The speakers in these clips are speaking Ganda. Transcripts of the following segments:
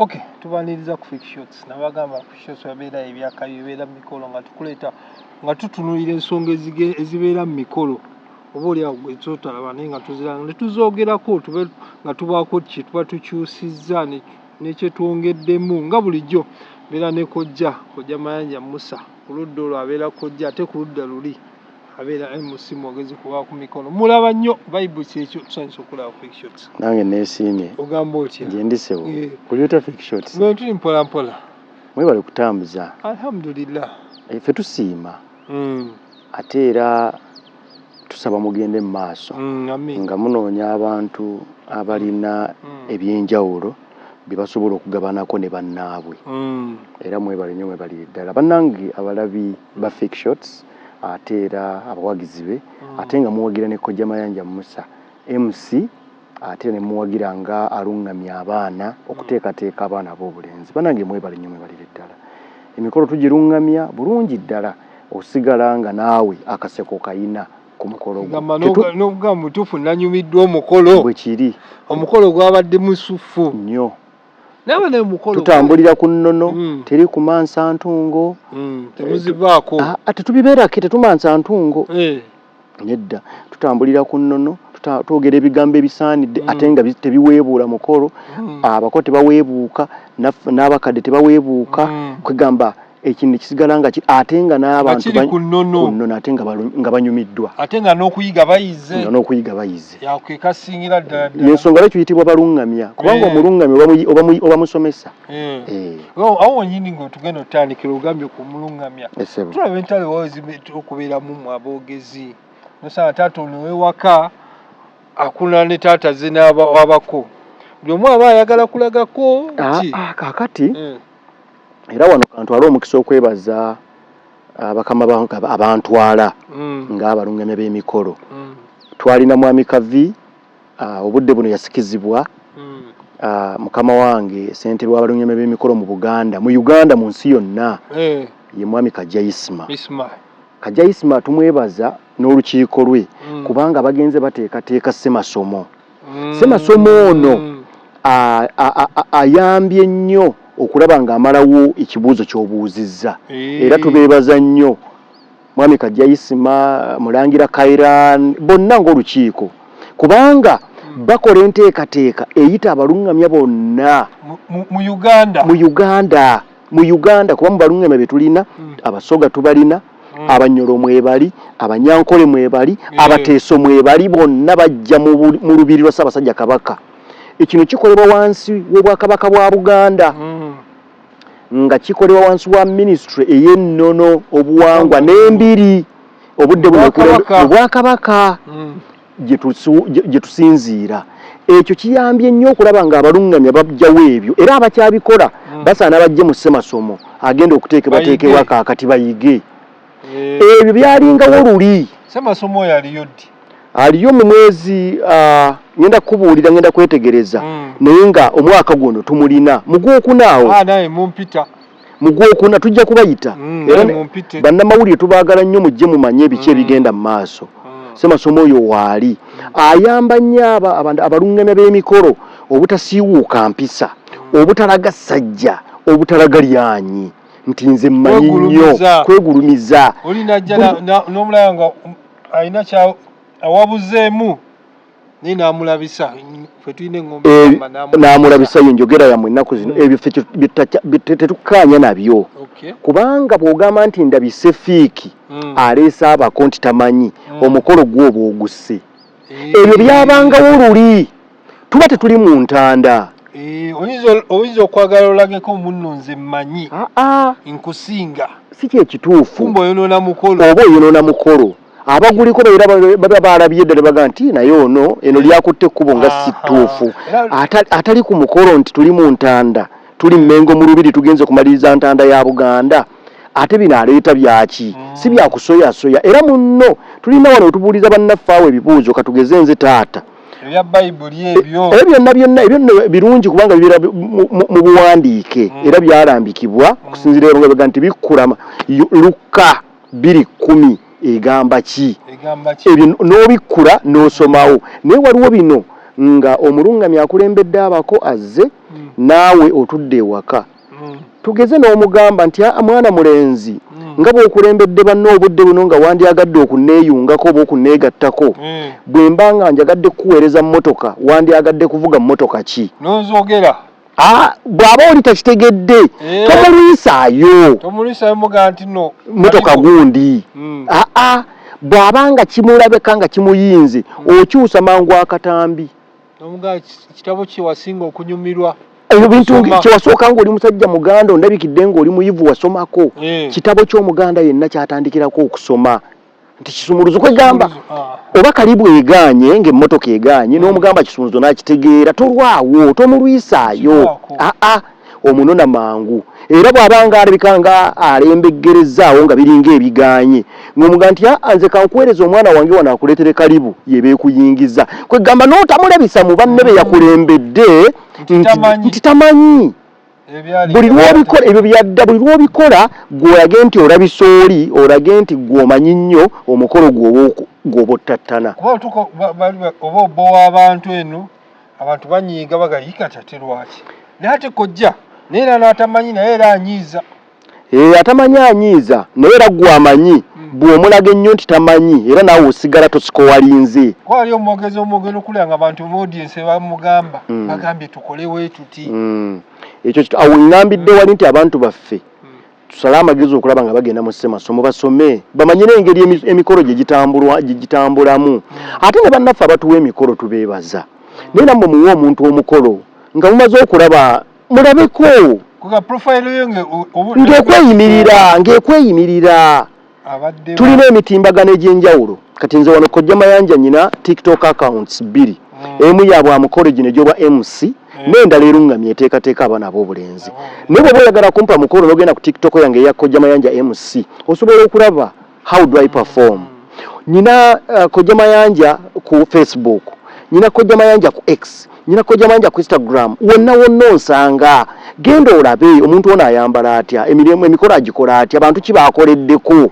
ok tubaniriza ku fake shots nabagamba ku shots babeera ebyakayo ebeera mu mikolo nga tukuleeta nga tutunulira ensonga ezibeera mu mikolo oba oliawo gwezotalaba naye nga tuziranga netuzoogerako tube nga tubaako kye tuba tukyusizza nekyetwongeddemu nga bulijjo mbeera ne kojja kojja mayanja musa ku ludda olwo abeera kojja ate ku ludda luli abeera alimu si mwogezi kuba ku mikono mulaba nnyo bible kyekyo tusanyusa okulaba fake shots nange nesiimye ogamba otya nje ndi sebo eh. kubyota fake shots no tuli mpola mpola mwebale kutambuza alhamdulillah ife eh, tusiima mm. ate era tusaba mugende mu maaso mm, nga munoonya abantu abalina mm. ebyenjawulo bye basobola okugabanako ne bannaabwe mm. era mwebale nyo mwebalire ddala bannange abalabi ba fake shots ate era abawagizi be mm. ate nga muwagira ne kojja mayanja musa mc ate ne muwagira nga aluŋŋamya abaana okuteekateeka abaana ab'obulenzi banange mwebale nnyo mwebalire ddala emikolo tugiruŋŋamya bulungi ddala osigala nga naawe akaseko kayina ku mukolo n'okugamba mutuufu nanyumiddwa omukolo bwekiri omukolo gwabadde musuffu nnyo tutambulira ku nnono mm. teri kumansa ntungo mm, temuzivaako ah, ah, tetubibeerake tetumansa ntungo eh. nedda tutambulira ku nnono twogera ebigambo ebisaanidde mm. ate nga tebiweebuula mukolo abako tebaweebuuka n'abakadde tebaweebuuka kwegamba ekintu nekisigala nga ate nga n'abantu ku nnono ate nga banyumiddwa ate nga n'okuyiga bayize nga n'okuyiga bayize kekasingira ddala ddala yensonga lwaki tuyitibwa balungamya kubanga eh. omulungamya oba musomesa eh. eh. oh, awo wenyini ngaotugenda otandikira ogambye ku mulungamya tulaba entalo okubeeramu mu aboogezi nosanga taata ono ewaka akuna ne taata ze n'abako buli omu aba ayagala kulagako ah, ah, kakati era wano kantwale omukisa okwebaza ah, bakama bange aba- abantwala Mm. ng'abalungamya b'emikolo Mm. twalina mwami kavi ah, obudde buno yasikizibwa Mm. ah, mukama wange ssentebe w'abalungamya b'emikolo mu buganda mu uganda mu nsi yonna Eh, ye mwami kajayisima Isma. kajayisima tumwebaza n'olukiiko lwe Mm. kubanga bagenze bateekateeka ssemasomo mm. semasomo ono ayambye nnyo okulaba ng'amalawo ekibuuzo ky'obuuzizza eh. era tubeebaza nnyo mwami kajjaisima mulangira kairan bonna ng'olukiiko kubanga hmm. bakola enteekateeka eyita abaluŋŋamya bonna mu uganda mu Uganda kuba mu balungame be tulina mm. abasoga tubalina mm. abanyolo mwebali abanyankole mwebali mm. abateeso mwebali bonna bajja mu lubiri lwa Ssaabasajja Kabaka ekino kikolebwa wansi w'obwakabaka bwa Buganda mm. nga kikolebwa wansi wa minisitule ey'ennono obuwangwa n'embiri obudde buno obwakabaka mm. gye tusinziira ekyo kiyambye nnyo okulaba nga abaluŋŋamya bajjawo ebyo era abakyabikola hmm. basaana bajje mu ssemasomo agenda okuteekebwateekebwa kaakati bayige eh. ebyo byalingawo luli ssemasomo oyo aliyo ddi aliyo mu mwezi ah, ngenda kubuulira ngenda kwetegereza hmm. naye nga omwaka guno tumulina mugwokunaawo ah, mu gwokuna tujja kubayita mm, era bannamawulire tubaagala nnyo mujje mumanye ebiki mm. ebigenda mu maaso mm. semasomo oyo waali ayamba nnyo abo abaluŋŋamya b'emikolo obutasiiwuuka mpisa obutalaga ssajja obutalaga lyanyi nti nze mmanyi nnyo kwegulumiza olinajja n'omulaba nga alina awabuzeemu naye namulabisa ffe tulina eŋombe eh, namulabisa yo njogera yamwe ennaku zino hmm. ebyo ffe tetukkaanya nabyo kubanga bw'ogamba nti ndabise fiiki hmm. aleese abako nti tamanyi hmm. omukolo gwoba ogusse eh. ebyo byabangawo luli tuba tetuli mu ntanda eh, oyinza okwagala olageko munno nze mmanyi ah, ah. nkusinga si kyekituufu oba oyonoona mukolo abaguliko babeera baba baalabye dda ne baga nti naye ono eno lyakutte ekkubo nga si ttuufu atali ku mukolo nti tuli mu ntanda tuli mmengo mu lubiri tugenze kumaliriza ntanda ya buganda ate bino aleeta byaki si mm. byakusoyasoya era munno tulina wano wetubuuliza bannaffe awo ebibuuzo katugeze nze taata ebya bayibuli eh, ebyo ebyo byonna byonna ebyo nno birungi kubanga bibeera mu buwandiike hmm. era byalambikibwa okusinzira ebyo nga bega nti bikkulama lukka biri kumi egamba ki ebyo n'obikkula n'osomawo naye waliwo bino nga omulungamya akulembedde abako azze mm. naawe otudde ewaka mm. tugeze n'omugamba nti a mwana mulenzi mm. nga bw'okulembedde banna obudde buno nga wandyagadde okunneeyungako oba okunneegattako bwe mba nga njagadde kukuweereza mmotoka wandyagadde kuvuga mmotoka ki nonzogera Ah, bwaba oli takitegedde eh. tomulwisaayo tomulwisaayo muga nti no motoka gundi mm. aa ah, ah. bwaba nga kimulabeka nga kimuyinze mm. okyusa mangu akatambi nomuga kitabo kyewasinga okunyumirwa ebintu kyewasooka nga oli musajja muganda ondabikidde nga oli muyivu wasomako eh. kitabo ky'omuganda yenna kyatandikirako okusoma nti kisumuluzo kwegamba ah. oba kalibu eganye nga emmotoka eganye n'omugamba kisumuluzo n'akitegeera tolwawo tomulwisaayo aa ah, ah, omunona mangu era bw'abanga alabika nga alembeggerezzaawo nga biringa ebiganye ng'omuga nti aa nze kankuweereza omwana wange wano akuleetere kalibu yebeekuyingiza kwegamba n'otamulabisa mu banne be yakulembedde nti tamanyi buli lwobikola ebyo byadda buli lwobikola gwolage nti olabisa oli olage nti gwomanyi nnyo omukolo gwoba ottattana oba obowa abantu eno abantu banyiiga bagayikati ate lwaki naye ate kojja naye era natamanyi naye era anyiiza Eh, atamanyi anyiiza naye era gwe amanyi hmm. bw'omulaga ennyo nti tamanyi era naawe osigala tosikowalinze kuba wali omwogezi omwogero okulira nga bantu mu audiensi bamugamba hmm. bagambye tukole weetuti hmm. ekyo awo ngambidde wali nti abantu baffe tusale amagezi okulaba nga bagenda mu ssemasomo basome bamanye n'engeri emikolo gye gitambulamu ate ne bannaffe abatuwa emikolo tubeebaza naye nammwe muwe omuntu omukolo nga mumaze okulaba mulabeko ng'ekweyimirira ng'ekweyimirira tulina emitimbagano egy'enjawulo kati nze wano kojja mayanja nyina tiktok accounts bbiri mm. emu yabwa mukolo gino egyoba mc mm. n'endala eruŋŋamye eteekateeka abaana ab'obulenzi mm. naye bwoba oyagala kumpa mukolo n'ogenda ku tiktok yange eya kojja mayanja mc osobola okulaba how do i perform nina uh, kojja mayanja ku facebook nina kojja mayanja ku x nina kojja mayanja ku instagram wonna wonna onsanga genda olabe omuntu ono ayambala atya emirimu emikolo agikola atya bantu ki bakoleddeko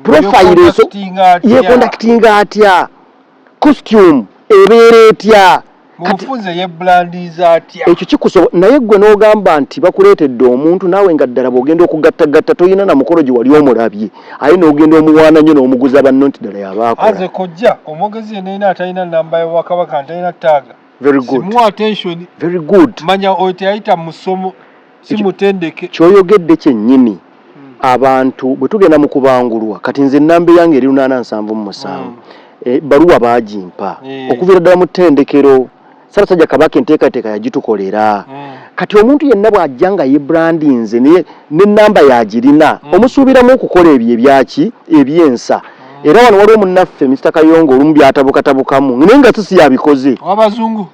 profile yekondakitinga atya Costume ebeera etya? Mubufunze yebrandiiza atya? Ekyo kikusobo naye ggwe n'ogamba nti bakuleetedde omuntu naawe nga ddala bw'ogenda okugattagatta tolina na mukolo gye wali omulabye aye n'ogenda omuwaana nnyo n'omuguza banno nti ddala y'aba akola. As a kojja omwogezi yenna yenna atalina nnamba ya Bwakabaka ntalina ttaaga simuwa attention manya oyo teyayita mu ssomo. si mutendeke kyoyogedde kyennyini hmm. abantu bwe tugenda mu kubangulwa kati nze ennamba eyange eri lunaana nsanvu mu musanvu hmm. eh, baluwa baagimpa eh. okuviira ddala mu ttendekero sabasajja kabaka enteekateeka yagitukolera hmm. kati omuntu yenna bw'ajja nga yebrandinze naye n'ennamba yagirina omusuubiramu okukola ebyo ebyaki ebyensa era wano waliwo munnaffe Mr Kayongo olumu byatabukatabukamu naye nga sisi yabikoze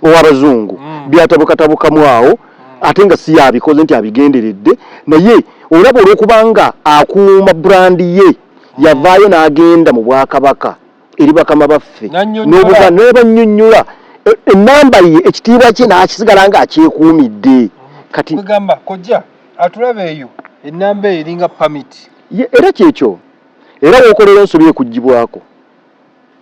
owabazungu mm. byatabukatabukamu awo ate nga si yabikoze nti abigenderedde naye olaba olwokubanga akuuma brand ye yavaayo n'agenda mu bwakabaka eri bakama baffe nebanyonyola e, enamba ye ekitiibwa kye nakisigala nga akyekuumidde kati gamba kojja atulaba eyo enamba eyo eringa pamit era kyekyo era wokolera ensobi ekugibwako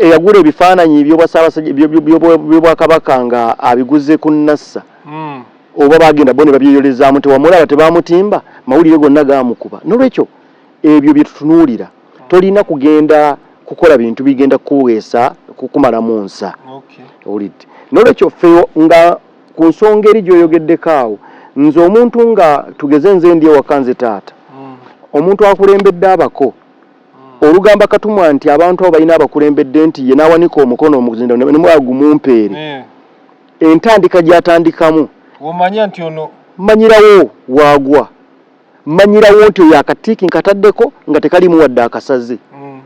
eyagula ebifaananyi byobwakabaka nga abiguze ku nassa hmm. oba bagenda bo ne babyeyolezaamu tewamulaba tebamutimba mawulire gonna gamukuba nolwekyo ebyo byetutunuulira hmm. tolina kugenda kukola bintu bigenda kuweesa kukumalamu nsa owulidde nolwekyo fe nga ku nsonga eri gyoyogeddeko awo nze omuntu nga tugeze nze ndi ewaka nze taata hmm. omuntu akulembedde abako olugamba katumwa nti abantu abo balina abakulembedde nti ye n'awanika omukono omuzinda ne mwa gumumpeere eh. entandika gy'atandikamu omanya nti ono manyirawo waagwa manyirawo nti oyo akatiiki nkataddeko nga tekalimu wadde akasaze mm.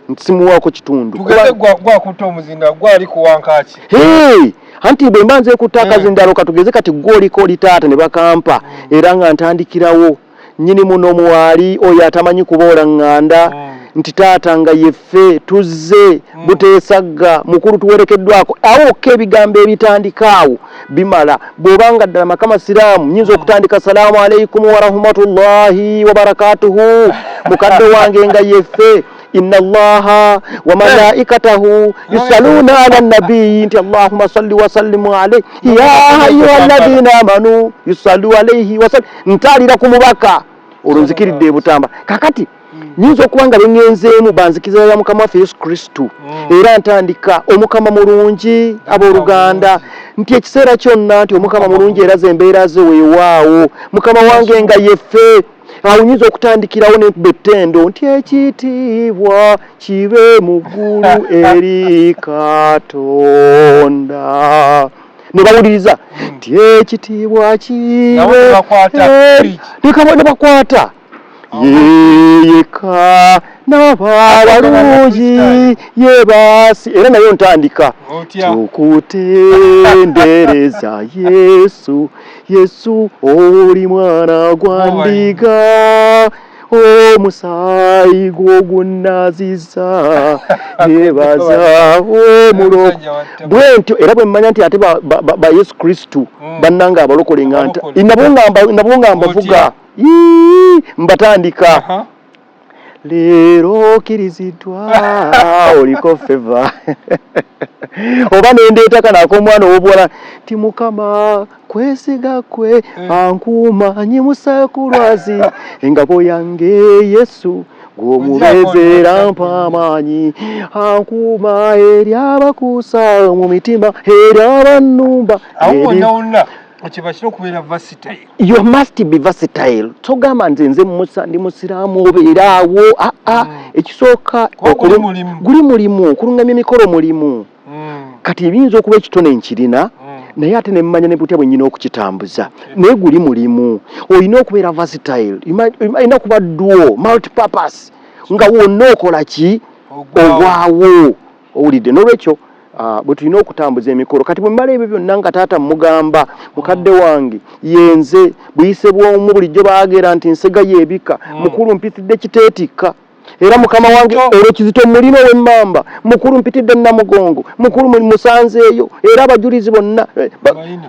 nti simuwaako kitundu tugende gwakutta omuzinda gwali kuwankaaki anti bwe mba nze kutta eh. akazindaalo katugeze kati gwoliko oli taata ne bakampa mm. era nga ntandikirawo Nnyinimu no mwali oyo atamanyi kuboola nganda nti taata nga yeffe tuzze buteesagga mukulu tuwerekeddwako awo wokka ebigambo ebitandika awo bimala bw'oba nga ddala maka masiraamu nyinza okutandika salaamu alaikumu warahmatullahi wabarakatuhu mukadde wange nga yeffe inna allaha wa malaikatahu yusaluna ala nabiyi nti allahuma salli wasallimu alaihi ya ayuha alladhina amanu yusalu alaihi wasallim ntaalira ku mubaka olwo nzikiridde ebutamba kakati nyinza okuba nga bengenzeemu banzikiriza ya mukama waffe yesu kristu mm. era ntandika omukama mulungi abooluganda nti ekiseera kyonna nti omukama mulungi era ze embeera ze weewaawo mukama wange nga yefe awo nyinza okutandikirawo nenkuba ettendo nti ekitiibwa kibe mu ggulu eri katonda nebawuliriza hmm. nti ekitiibwa kiwenebakwata yeyeka nababalungi yebasi era nayo ntandika tukutendereza yesu yesu oli mwana gwandiga omusaayi gwogunaaziza nebaza omulo bwentyo era bwemmanya nti ate ba yesu kristu hmm. bannanga abalokole nga nabo nga mbavuga mbatandika leero okiriziddwa oliko feva oba nendeetaka naako omwana ow'obuwala ti mukama kwesiga kwe mm. ankuuma nyimusa ku lwazi engabo yange yesu gw'omubezeera mpa amaanyi ankuuma eri abakuusa mu mitima eri abannumba okibakira okubeera versatile you must be versatile togamba nze nze musa ndi musiraamu obeera awo aa ah, ah. mm. ekisooka guli mulimu okulungamya emikolo mulimu kati ebiyinza okuba ekitone nkirina mm. naye ate nemmanya ne butya bwennyina okukitambuza mm. naye guli mulimu olina okubeera vasitile olina okuba duo multipurpose nga wonna okola ki ogwawo owulidde n'olwekyo Ah, bwe tulina okutambuza emikolo kati bwe mmala ebyo byonna nga taata mmugamba mukadde mm. wange yenze buyise bw'omu bulijjo baagera nti nsega yeebika mm. mukulu mpitidde kiteetikka era mukama wange olwo kizito mulina owemmamba mukulu mpitidde namugongo mukulu musanzeeyo era abajulizi bonna eh,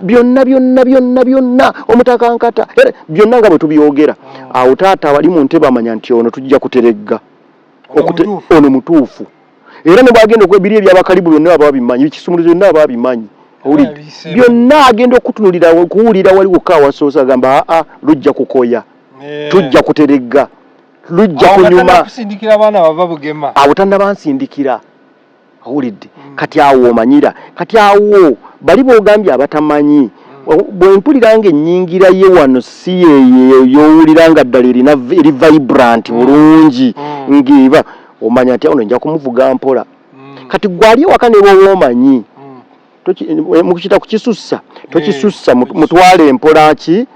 byonna byonna byonna byonna omutakankata era byonna nga bwe tubyogera ah. awo taata abali mu ntebe amanya nti ono tujja kuteregga ono mutuufu era nebwagenda okwebiri ebyabakalibu byonna aba babimanyi bikisumuluzo byonna aba babimanyi byonna agenda okutunulira kuwulira waliwo kawasoosa agamba aa lujja kukoya eh. tujja kuteregga lujja kunyuma kusindikira abaana bava bugema abo tannabansindikira awulidde mm. kati awo omanyira kati awo bali bogambye abatamanyi mm. bwempulira nga ennyingira ye wano si yeyowulira nga ddala erina eri vibrant mm. bulungi mm. ng'eba omanya nti awo nja kumuvuga mpola mm. kati gwali ewaka ne bwoba omanyi mm. Eh, mukita kukisussa tokisussa eh, mutwale mpola ki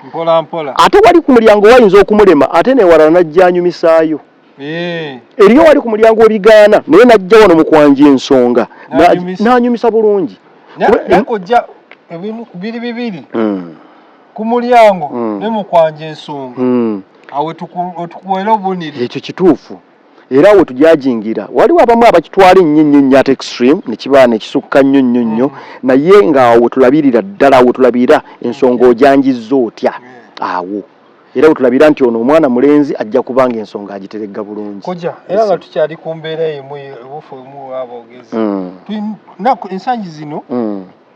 ate wali ku mulyango wayinza okumulema ate newalala najja anyumisaayo eh. eriyo wali ku mulyango webigaana naye najja wano mukwanja ensonga nanyumisa bulungi nakojja ebimu biri bibiri hmm. ku mulyango hmm. ne mukwanja ensonga hmm. awo tukuwera obuniri ekyo kituufu era awo wetujajingira waliwo abamu abakitwala ennyo nnyo nnyo ate extreme nekiba nekisukka nnyo nnyo nnyo mm. naye nga awo wetulabirira ddala wetulabira ensonga mm. ojanjizza otya mm. awo era wetulabira nti ono omwana mulenzi ajja kubanga ensonga agiteregga bulungi kuja era nga tukyali ku mbeera emu ebufu emu aboogezi ensangi zino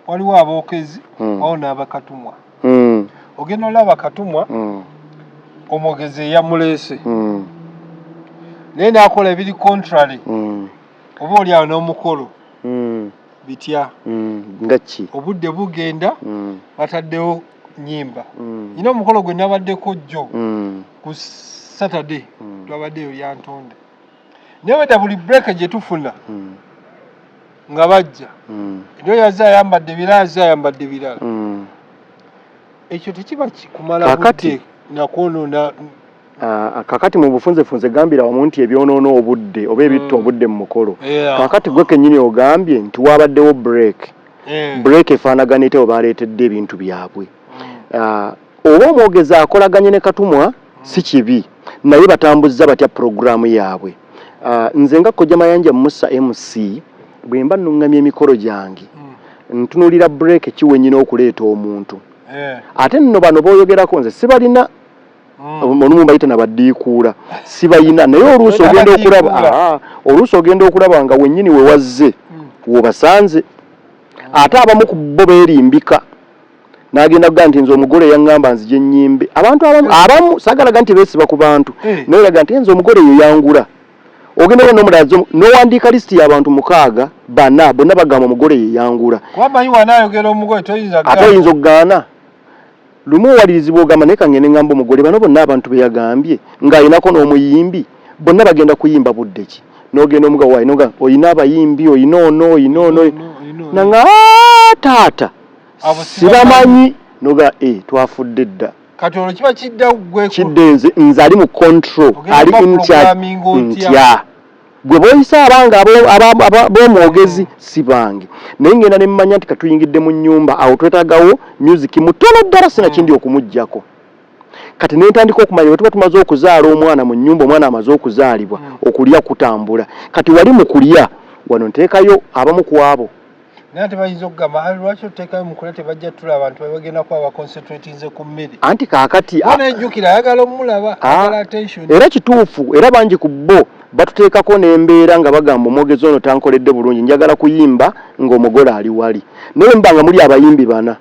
waliwo abookezi hmm. wawo n'abakatumwa hmm. ogenda olaba katumwa hmm. omwogezi eyamuleese naye naakola ebiri contrary oba oli awo n'omukolo bitya ngaki obudde bugenda bataddewo nyimba nyina omukolo gwe nabaddeko jjo ku saturday twabaddeyo lyantonde naye weta buli break gye tufuna hmm. nga bajja hmm. nyo yaze ayambadde ebirala aze ayambadde ebirala hmm. ekyo tekiba kikumala kakati nakwonona Ah, kakati mu bufunzefunze gambira wamu nti ebyonoona obudde oba ebitta mm. obudde mu mukolo kakati gwe kenyini ogambye nti wabaddewo break eh. break efaanagana ete webaleetedde ebintu byabwe mm. ah, Oba omwogezi akolaganye ne Katumwa si kibi naye batambuzza batya pulogulaamu yaabwe? Nze nga Kojja Mayanja Musa MC bwe mba nnung'amya emikolo gyange ntunuulira bbureeke ki we nnyina okuleeta omuntu. Ate nno bano b'oyogerako nze sibalina olumu mbayita na baddiikuula sibalina naye oluusi ogenda okulaba oluusi ogenda okulaba nga wennyini we wazze w'obasanze ate abamu ku bo beerimbika. nagenda kugaa nti nze omugole yaŋŋamba nzije nnyimbe abantu abamu eh. abamu sagalaga nti beesiba ku bantu eh. naye laga nti nze omugole eyo yangula ogenda oba nomulala nowandiika lisiti y'abantu mukaaga bana bonna bagamba omugole ye yangula ate oyinza okugaana lumu owalirizibwa ogamba naye kangende ŋŋamba omugole bano bonna abantu be yagambye ng'alinako n'omuyimbi bonna bagenda kuyimba budde ki n'ogenda omugawainoga olina abayimbi olina ono olina ono nanga ah, taata abo sibamanyi noga e eh, twafudde dda kati olwo kiba kidda gwe kidde nze nze ali mu control ali in charge ntya gwe boyisa abanga abomwogezi hmm. si bange naye ngenda ne mmanya nti katuyingidde mu nyumba awo twetagawo music mutono ddala sina kindi hmm. okumugjako kati nentandika okumanya wetuba tumaze okuzaala omwana mu nyumba omwana amaze okuzaalibwa hmm. okulya kutambula kati wali mu kulya wano ntekayo abamu kwabo naye ate bayinza okugamba ali lwaki oteekayo mukula tebajja tula abantu babagenda kuba baconcentratinze ku mmere anti kaakati bona ejjukira ayagala omulaba agala attention era kituufu era bangi ku bo batuteekako n'embeera nga bagamba omwogezi ono tankoledde bulungi njagala kuyimba ng'omugole ali wali naye mba nga muli abayimbi bana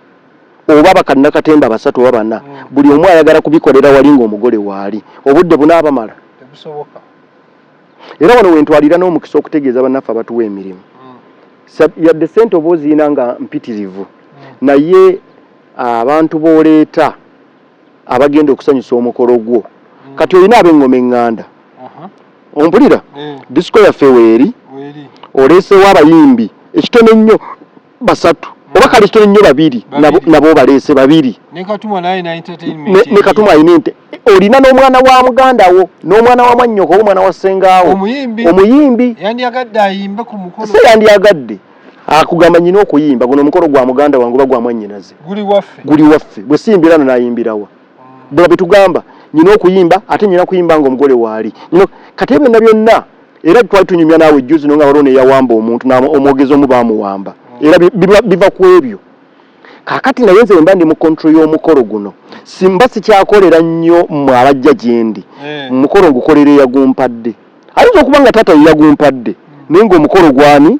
oba bakannakatemba abasatu oba bana mm. buli omu ayagala kubikolera wali ng'omugole waali obudde bunaabamala tebusoboka era wano wentwalira n'omukisa okutegeeza bannaffe abatuwa emirimu mm. yadde sente oba oziina nga mpitirivu mm. naye ah, abantu booleeta abagenda okusanyusa omukolo gwo mm. kati olina ab'engoma eŋŋanda ompulira disiko yaffe weeri oleesewo abayimbi ekitono ennyo basatu mm. oba kale kitone nnyo babiri nabo baleese babiri ne katumwa alina ente olina n'omwana wa muganda wo n'omwana wa mwannyoko oba omwana wa ssengaawo omuyimbi se yandiyagadde akugamba nyina okuyimba guno omukolo gwa muganda wange oba gwa mwannyinaze guli waffe gwe siyimbirano nayimbirawa bula betugamba nyina okuyimba ate nyina kuyimba nga omugole waali nyina kati ebyo na byonna era twali tunyumya naawe juzi no nga waliwo neyawamba omuntu omwogezi omu baamuwamba era biva ku ebyo kakati naye nze wemba ndi mu kontro y'omukolo guno simba sikyakolera nnyo mwe abajja gyendi eh. omukolo ngukolera eyagumpadde ayinza okuba nga taata yeyagumpadde naye ngaomukolo gwani